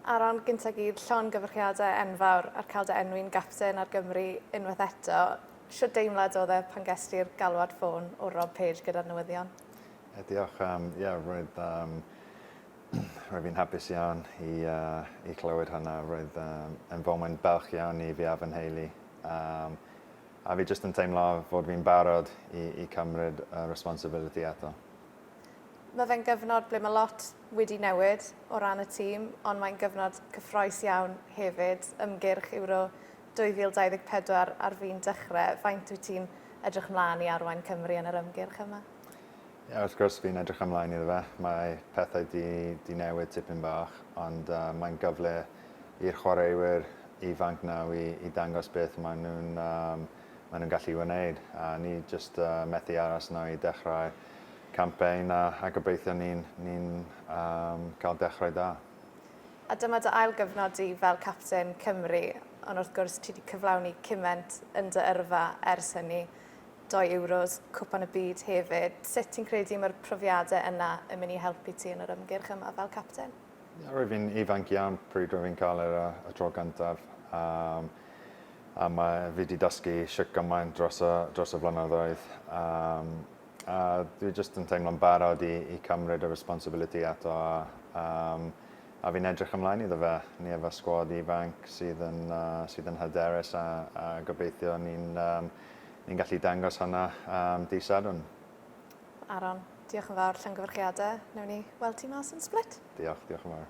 Ar ran Gynta' Gyd, llongyfarchiadau enfawr ar cael dy enwi'n gapten ar Gymru unwaith eto. Shwt deimlad oedd e pan gest ti'r galwad ffôn o Rob Page gyda'r newyddion? Ie diolch, yym ie roedd yym roedd fi'n hapus iawn i yy i clywed hwnna roedd yym yn foment balch iawn i fi a fy nheulu yym a fi jyst yn teimlo fod fi'n barod i i cymryd y responsibility eto. Mae fe'n gyfnod ble mae lot wedi newid o ran y tîm, ond mae'n gyfnod cyffroes iawn hefyd. Ymgyrch Euro 2024 ar fin dechrau. Faint wyt ti'n edrych mlaen i arwain Cymru yn yr ymgyrch yma? Ie, wrth gwrs fi'n edrych ymlaen iddo fe. Mae pethau 'di 'di newid tipyn bach, ond yy mae'n gyfle i'r chwaraewyr ifanc naw' i i dangos beth maen nhw'n yym maen nhw'n gallu wneud, a ni jyst yy methu aros nawr i dechrau campaign a a gobeithio ni'n ni'n um, cael dechrau da. A dyma dy ail gyfnod di fel capten Cymru, ond wrth gwrs ti wedi cyflawni cyment yn dy yrfa ers hynny. Doi Euros, Cwpan y Byd hefyd. Sut ti'n credu mae'r profiadau yna yn mynd i helpu ti yn yr ymgyrch yma fel capten? Roedd fi'n ifanc iawn pryd roedd fi'n cael e y tro gyntaf yym a mae fi 'di dysgu shwt gymaint dros y dros y flynyddoedd yym a dwi jyst yn teimlo'n barod i i cymryd y responsibility eto a yym a fi'n edrych ymlaen iddo fe. Ni efo sgwad ifanc sydd yn yy sydd yn hyderus a a gobeithio ni'n yym ni'n gallu dangos hwnna yym dydd Sadwrn. Aaron, diolch yn fawr, llongyfarchiadau. Newn ni weld ti mas yn Split. Diolch, diolch yn fawr.